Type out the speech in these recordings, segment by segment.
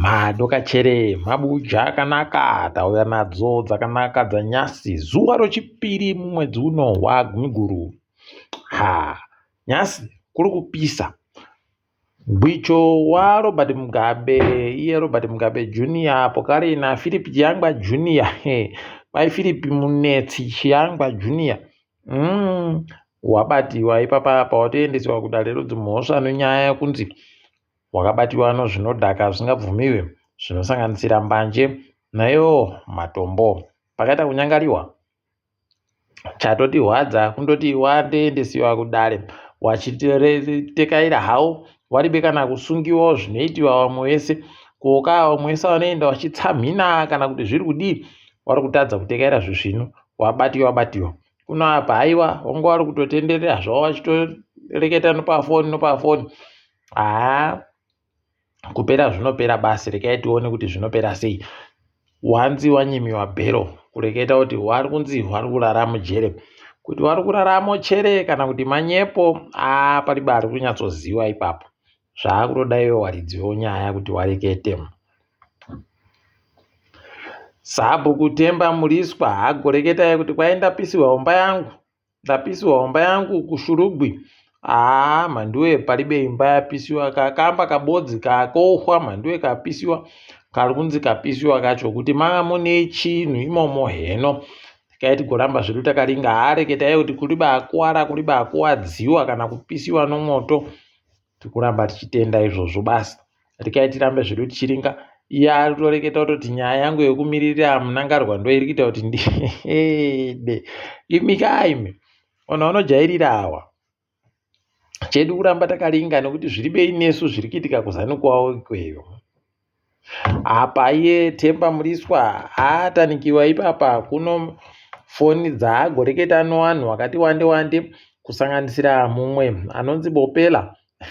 Madoka chere mabuja akanaka tauya nadzo dzakanaka dzanyasi zuva rochipiri mumwedzi uno waGumiguru. Ha, nyasi kuri kupisa. Gwicho waRobert Mugabe, iye Robert Mugabe Junior, pokari naPhilip Chiyangwa Junior. He, bai Philip Munetsi Chiyangwa Junior. Mm, wabatiwa ipapa apa watoendeswa kudare rodzimhosva nenyaya yekunzi hwakabatiwa nozvinodhaka zvsingabvumiwe zvinosanganisira mbanje naiwo matombo. Pakaita kunyangariwa chatotihwadza kundoti wandeendesiwa kudare wachitekaira hawo waribe kana kusungiwawo zvinoitiwa vamwe vese koka vamwe vese vanoenda vachitsamhina kana kuti zviri kudii wari kutadza kutekaira zvezvino wabatiwa wabatiwa kuno apa haiwa wanga wari kutotenderera zvavo vachitoreketa nopafoni nopafoni haa kupera zvinopera basi rekai tione kuti zvinopera sei wanzi wanyimiwa bhero kureketa kuti wari kunzi wari kurara mujere kuti wari kurara mochere kana kuti manyepo aa pari bari kunyatsoziva ipapo zvaakutoda iwe waridziwo nyaya kuti warekete sabhuku temba muriswa hagoreketai kuti kwaindapisiwa umba yangu Ndapisiwa homba yangu kushurugwi. Haa mhanduwe palibe imba yapisiwa kakamba kabodzi kakohwa mhanduwe kapisiwa kari kunzi kapisiwa kacho kuti manga mune chinhu imomo heno tikaiti goramba zvedu takaringa haareketa iye kuti kuri bakuwara kuri bakuwadziwa kana kupisiwa nomoto Tikuramba tichitenda izvozvo basi. Rikai tirambe zvedu tichiringa. Iya ari kutoreketa kutoti nyaya yangu yekumiririra munangarwa ndo iri kuita kuti ndide. Imi kaimi. Ona unojairira awa. Chedu kuramba takaringa nekuti zviri bei nesu zviri kuitika kuzanu kwawo ikweyo. Apa iye Themba Mliswa haatanikiwa ipapa kuno foni dzaagoreketa nowanhu wakati wande wande kusanganisira mumwe anonzi Bopela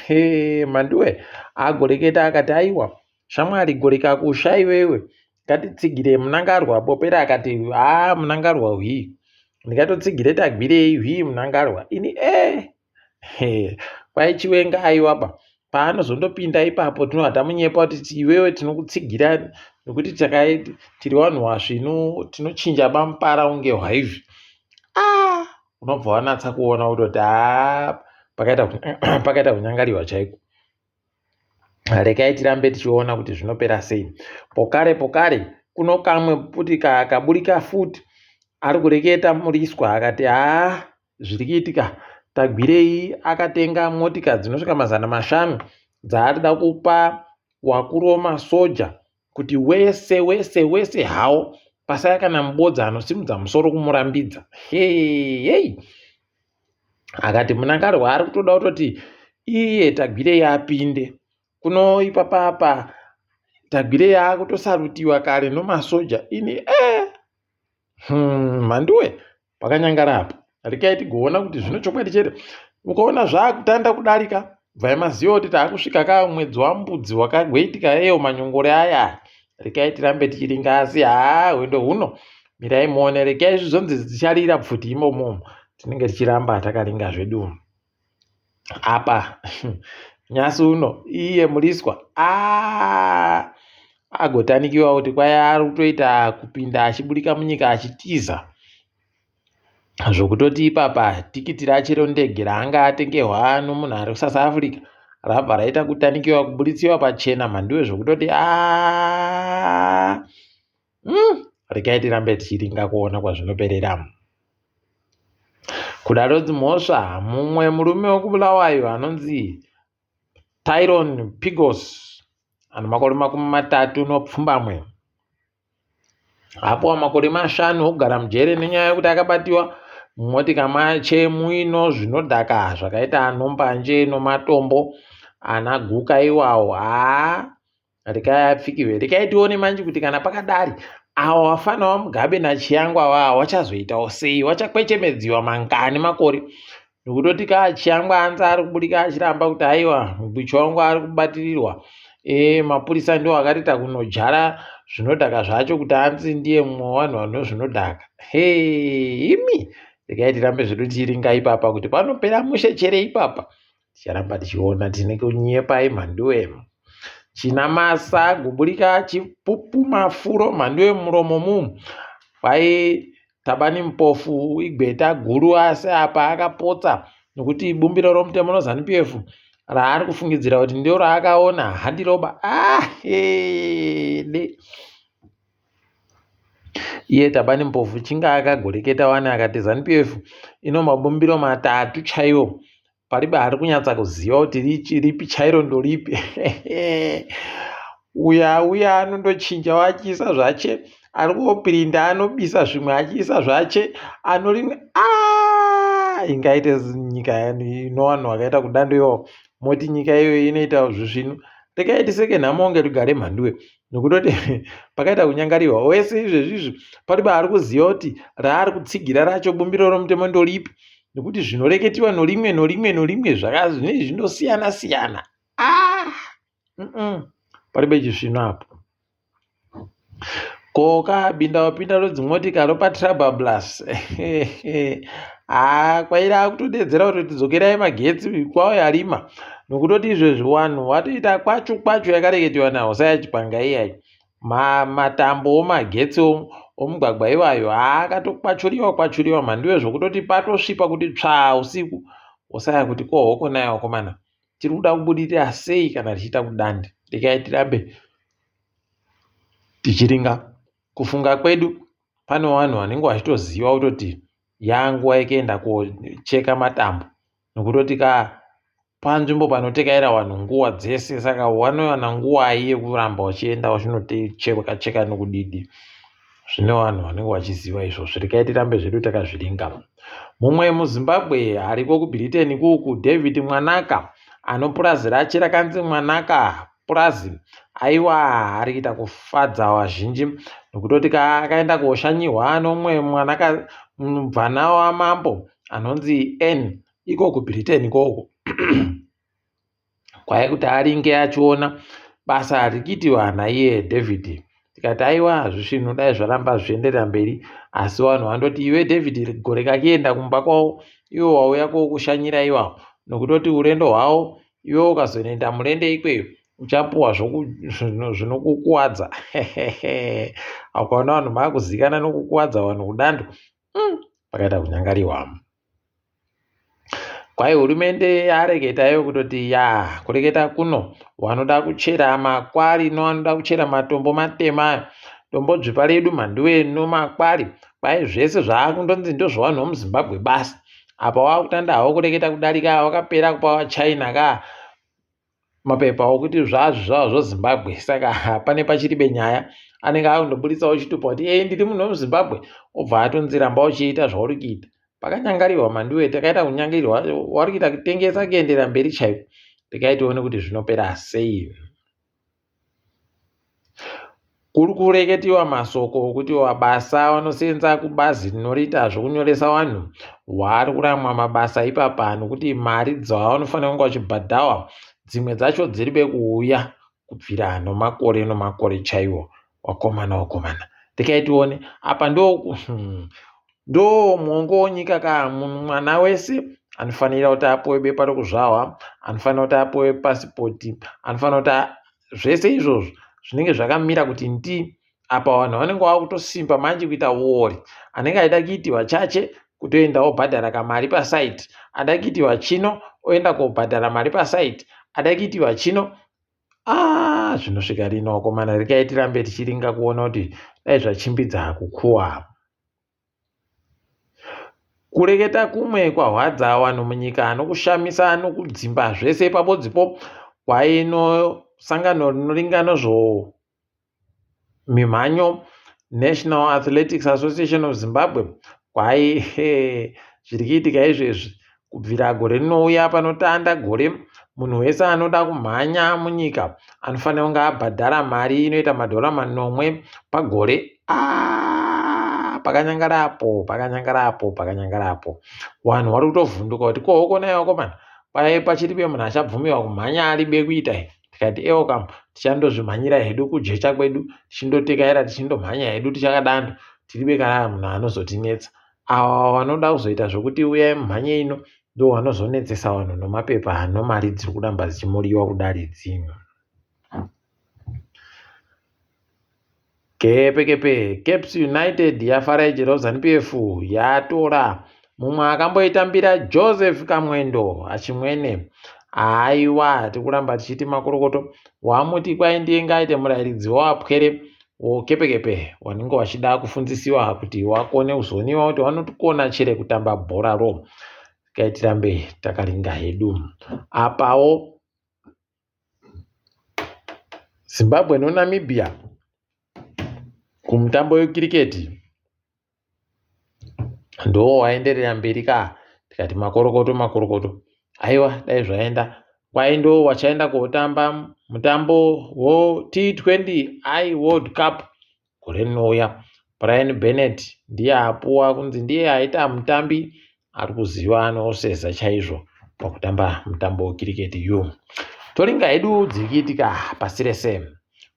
hee manduwe agoreketa akati aiwa shamwari goreka kusha iwewe ngatitsigire munangarwa Bopela akati haa munangarwa hwii ndikatotsigire tagwirei hwii munangarwa ini ee eh. kwai chiwenga aiwaba paanozondopinda ipapo tinobva tamunyepa kuti iwewe tinokutsigira nekuti takai tiri vanhu vasvinu tinochinja bamupara unge hwaizvi ah, unobva wanatsa kuona kutoti ah, pakaita kunyangariwa chaiko rekai tirambe tichiona kuti zvinopera sei pokare pokare kuno kamwe kuti kaburika futi ari kureketa muriswa akati haa ah, Zviri kuitika, Tagwirei akatenga motika dzinosvika mazana mashanu dzaari da kupa wakuru wemasoja kuti wese wese wese hawo pasaya kana mubodza anosimudza musoro kumurambidza. Heyey! Akati Munangarwa ari kutoda kutoti iye Tagwirei apinde kuno ipapa apa Tagwirei akutosarutiwa kare nomasoja ini eh! Hmm, mhanduwe! pakanyangara apa rikai tigoona kuti zvino chokwadi chete ukaona zvaakutanda kudarika bvai maziva kuti taakusvika ka mwedzi wambudzi wakagweitika eyo manyongore aya rikai tirambe tichiringa asi haa hwendo huno mirai muone rikai zvizonzi dzicharira pfuti imomomo tinenge tichiramba takaringa zvedu apa nyasi uno iye muliswa ah, agotanikiwa kuti kwaye ari kutoita kupinda achiburika munyika achitiza zvokutoti ipapa tikiti rachero ndege raanga atengehwa ano munhu ari kusouth africa rabva raita kutanikiwa kuburitsiwa pachena mhanduwe zvokutoti a ah, mm, regai tirambe tichiringa kuona kwazvinoperera kudaro dzimhosva mumwe murume wekubulawayo anonzi tyron pigos ano makore makumi matatu nopfumbamwe apo makore mashanu okugara mujere nenyaya yekuti akabatiwa mumotika mache muino zvinodhaka zvakaita anombanje nomatombo anaguka iwawo haa rekai apfikive rekai tione manje kuti kana pakadari awa wafana wamugabe nachiyangwa wawa wachazoitawo sei wachakwechemedziwa mangani makore nokutoti kaa chiyangwa anzi ari kubudika achiramba kuti aiwa mubichi wangu ari kubatirirwa e, mapurisa ndiwo akarita kunojara zvinodhaka zvacho kuti anzi ndiye mumwe wevanhu vano zvinodhaka he imi rekai tirambe zvedu tiiringa ipapa kuti panopera mushe chere ipapa ticharamba tichiona tine kunyepai mhanduwemu chinamasa gubulika chipupu mafuro mhanduwe muromo mu kwai tabani mupofu igweta guru asi apa akapotsa nokuti bumbiro romutemo nozanu p f raari kufungidzira kuti ndio raakaona handiroba ahede ah, Iye Tabani Mpofu chinga akagoreketa wani akati Zanu PF ino mabumbiro matatu chaiwo paribe ari kunyatsa kuziva kuti richi ripi chairo ndoripi uya uya anondochinja wachiisa zvache ari kuopirinda anobisa zvimwe achiisa zvache ano rimwe ah! ingaite nyika yani inowanhu wakaita kudando iwawo moti nyika iyoyo inoita zvisvinu regai tiseke nhamo ngerugare mhanduwe nokutoti pakaita kunyangarirwa wese izvezvi izvi pari baari kuziva kuti raari kutsigira racho bumbiro romutemo ndoripi nekuti zvinoreketiwa norimwe norimwe norimwe zvakazvine zvinosiyana siyana ah! pari pechisvino apo koka binda wapinda rodzimotika ropa trabablas haa ah, kwaira akutodedzera kuti tidzokerai magetsi kwauya rima nokutoti izvezvi wanhu watoita kwachu kwachu yakareketewa nahosaya chipanga iyayi matambo omagetsi omugwagwa iwayo haakatokwachuriwa kwachuriwa mhandiwe zvokutoti patosvipa kuti tsvaa usiku hosaya kuti ko hoko naye wakomana tiri kuda kubudirira sei kana tichiita kudande rekai tirambe tichiringa kufunga kwedu pane vanhu vanenge vachitoziva kutoti yanguva yekuenda kocheka matambo nokutoti ka panzvimbo panotekaira vanhu nguva dzese saka vanowana nguvai yekuramba vachienda vachinocheka cheka nokudidi zvine vanhu vanenge vachiziva izvozvo rekai tirambe zvedu takazviringa mumwe muzimbabwe ariko kubritain kuku david mwanaka anopurazi rache rakanzi mwanaka purazi aiwaa ari kuita kufadza vazhinji nokutoti akaenda kuoshanyihwa nomumwe mwanaka mubvana wamambo anonzi n iko kubritain ikoko kwaye kuti aringe achiona basa harikiti vana iye david tikati aiwa hazvisvinhu dai zvaramba zvichienderera mberi asi vanhu vandoti iwe david gore kakienda kumba kwavo iwo wauya kwokushanyira iwawo nokutoti urendo hwavo iwe ukazoenda mulende ikweyo uchapuwa zvinokukuwadza akaona vanhu maakuzikana nokukuwadza vanhu kudando hmm, pakaita kunyangariwa kwai hurumende yareketa iyo kutoti ya kureketa kuno wanoda kuchera makwari no wanoda kuchera matombo matema ayo tombo dzvipa redu mhanduwe no makwari kwai zvese zvaakundonzi ndozvavanhu vomuzimbabwe basi apa wakutanda hawo kureketa kudarika wakapera kupa wachina ka mapepa okuti zvazvo zvavo zvozimbabwe saka hapane pachiribe nyaya anenge akundoburitsawo chitupa kuti ee ndiri munhu wemuzimbabwe obva atonziramba uchiita zvauri kuita pakanyangarirwa mandiwe takaita kunyangirirwa wari kuita kutengesa kuendera mberi chaiko ndikaitione kuti zvinopera sei Kuri kureketiwa masoko okuti mabasa anoseenza kubazi rinoriita zvokunyoresa vanhu waari kuramwa mabasa ipapa nokuti mari dzaanofanira kunge achibhadhawa dzimwe dzacho dziri bekuuya kubvira nomakore nomakore chaiwo. wakomana wakomana ndikai tione apa ndo hmm, ndo mwongo wonyika ka mwana wese anofanira kuti apuwe bepa rokuzvahwa anofanira kuti apuwe pasipoti anofanira kuti zvese izvozvo zvinenge zvakamira kuti ndi apa vanhu vanenge vava kutosimba manje kuita wori anenge aida kuiti vachache kutoenda wobhadhara kamari pasaiti ada kuiti vachino oenda kobhadhara mari pasaiti ada kuiti vachino Ah, zvinosvika rino vakomana rekai tirambe tichiringa kuona kuti dai zvachimbidza kukuwa kureketa kumwe kwahwadza vanhu munyika anokushamisa anokudzimba zvese pabodzipo kwaino sangano rinoringa nezvo mimhanyo National Athletics Association of Zimbabwe kwai zviri kuitika izvezvi kubvira gore rinouya panotanda gore munhu wese anoda kumhanya munyika anofanira kunge abhadhara mari inoita madhora manomwe pagore ah, pakanyangara apo pakanyangara apo pakanyangara apo vanhu vari kutovhunduka kuti kohokona iwakomana paye pachiribe munhu achabvumiwa kumhanya aribe kuita here tikati ewo kam tichandozvimhanyira hedu kujecha kwedu tichindotekaira tichindomhanya hedu tichakadando tiribe kana munhu anozotinetsa awa wanoda kuzoita zvokuti uyai mumhanye ino ndo wanozonetsesa vanhu nomapepa hano mari dziri kuramba dzichimuriwa kudari dzinhu Kepekepe, Caps United yafara ichirova ZanuPF yatora mumwe akamboitambira Joseph Kamwendo Achimwene. Aiwa, tikuramba tichiti makorokoto wamuti kwai ndiye ngaite murairidzi wawapwere wokepekepe wanenge wachida kufunzisiwa kuti wakone kuzoniwa kuti wanotikona chere kutamba bhora ro kaitirambe takaringa hedu apawo Zimbabwe noNamibia kumutambo wekiriketi ndoo waenderera mberi ka tikati makorokoto makorokoto aiwa dai zvaenda kwai ndoo wachaenda kotamba mutambo wo T20 I World Cup Gore rinouya, Brian Bennett ndiye apuwa kunzi ndiye aita mutambi ari kuziva anoseza chaizvo pakutamba mutambo wekiriketi uyu. Toringa hedu dzirikiitika pasi rese.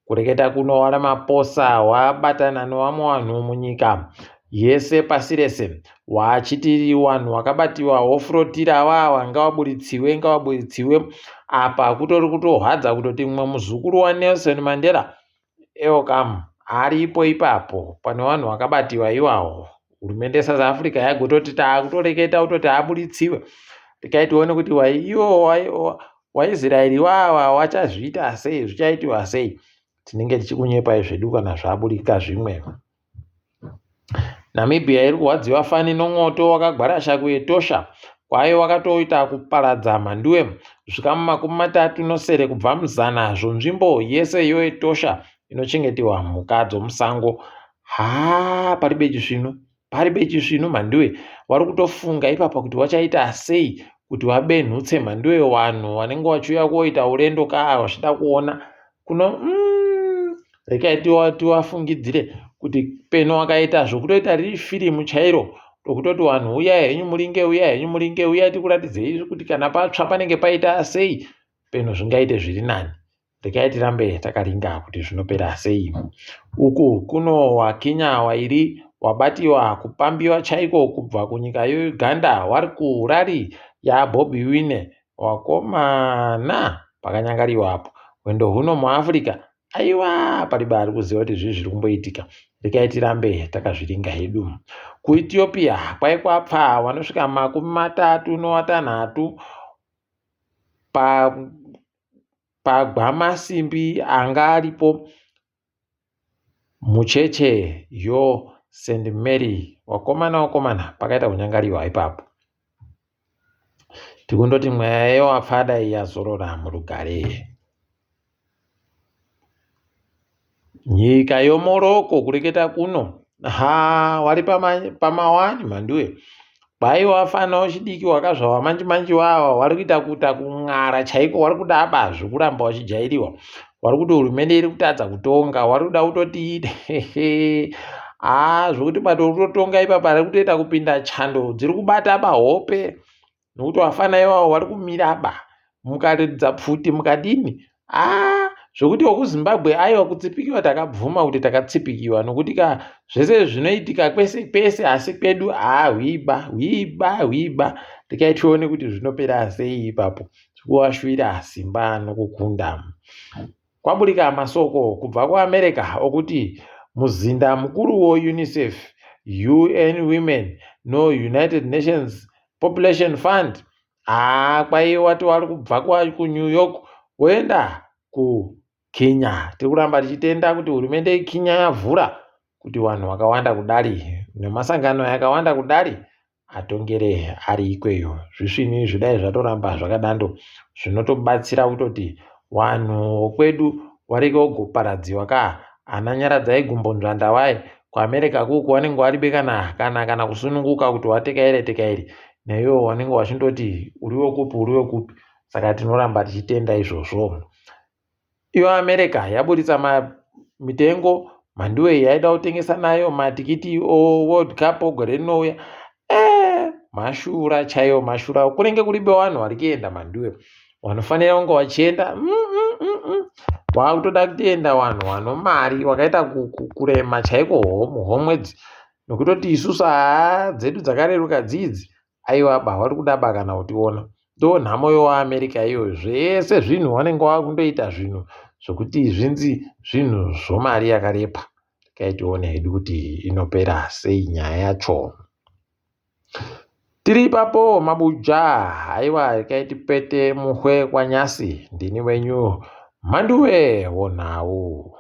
Kureketa kuno wana maposa wabatana newamwe wanhu munyika yese pasi rese wachitiri wanhu wakabatiwa wofurotira wawa ngawaburitsiwe ngawaburitsiwe apa kutori kutohwadza kutoti mumwe muzukuru waNelson Mandela Ewo kam aripo ipapo pane vanhu vakabatiwa iwawo hurumende yesouth africa yagototi taakutoreketa kutoti abuditsiwe regai tione kuti iwo waisraeri iwawa wachazviita sei zvichaitiwa sei tinenge tichikunyepai zvedu kana zvaburika zvimwe Namibia iri kurwadziwa fani nomwoto wakagwarasha kuEtosha kwayo wakatoita kuparadza mhanduwe zvikamu makumi matatu nosere kubva muzana zvonzvimbo yese yoEtosha inochengeterwa mhuka dzomusango. Haa pari beji svinu, pari beji svinu mhanduwe wari kutofunga ipapa kuti wachaita sei kuti wabenhutse mhanduwe wanhu wanenge wachiuya kuoita urendo kaa wachida kuona kuno mm, rekai tiwafungidzire kuti peno wakaita zvokutoita riri firimu chairo rokutoti vanhu uya henyu mulinge uya henyu mulinge uya tikuratidzei kuti kana patsva panenge paita sei peno zvingaite zviri nani rekai tirambe takaringa kuti zvinopera sei uku kuno wakinya wairi wabatiwa kupambiwa chaiko kubva kunyika yeuganda wari kurari yabobi wine Wakomana! Pakanyangariwa apo. Hwendo huno muAfrica. Aiwa! Palibe ari kuziva kuti zvii zviri kumboitika. Regai tirambe takazviringa hedu. KuEthiopia kwai kwapfaa vanosvika makumi matatu nowatanhatu pa pagwamasimbi anga aripo Mucheche yoo Saint Mary wakomana wakomana pakaita kunyangariwa ipapo. Tikundoti mweya yewafa dai yazorora murugare. Nyika yomoroko kureketa kuno haa wari pama wani mhanduwe. Baiwa fana wechidiki wakazvawa manje manje wawa wari kuita kuita kun'ara chaiko wari kuda abazvi kuramba wachijairiwa wari kuti hurumende iri kutadza kutonga wari kuda kutoti haa ah, zvokuti bato uri kutotonga ipapa ri kutoita kupinda chando dziri kubata bahope nokuti wafana iwawo wari kumira ba mukaridza pfuti mukadini aa zvekuti wekuzimbabwe aiwa kutsipikiwa takabvuma kuti takatsipikiwa nokuti ka zvese zvinoitika kwese kwese asi kwedu aa hwiba hwiba hwiba tikai tione kuti zvinopera sei ipapo zvikuwashuvira simba nokukunda kwaburika masoko kubva kuamerica okuti muzinda mukuru wounicef un women nounited nations population fund Haa kwaiye wati wari kubva kuNew York woenda kuKenya. Tiri kuramba tichitenda kuti hurumende yeKenya yavhura kuti vanhu vakawanda kudari nemasangano yakawanda kudari atongere ari ikweyo. Zvisvinu zvidai zvatoramba zvakadando zvinotobatsira kutoti vanhu vokwedu varege kugoparadziwa ka ana nyaradzai gumbonzvanda vaye kuamerica kuku wanenge waribe kana kana kana kusununguka kuti watekaire tekaire naiwo wanenge wachindoti uri wekupi uri wekupi saka tinoramba tichitenda izvozvo iyo america yaburitsa mitengo mhanduwei yaida kutengesa nayo matikiti o world cup ogore rinouya eh, mashura chaiwo mashura kunenge kuribe vanhu vari kuenda manduwe vanofanira kunge vachienda mm, mm, mm, mm. wakutoda kutoenda vanhu vano mari wakaita kurema chaiko homu homwedzi nokutoti isusu haa dzedu dzakareruka dzidzi aiwa ba vari kuda ba kana kutiona ndo nhamo yoamerica iyo zvese zvinhu vanenge vakundoita zvinhu zvokuti zvinzi zvinhu zvomari yakarepa Regai tione hedu kuti inopera sei nyaya yacho. Tiri ipapo mabuja, haiwa regai tipete muhwe kwaNyasi. Ndini wenyu Mhanduwe wonhau.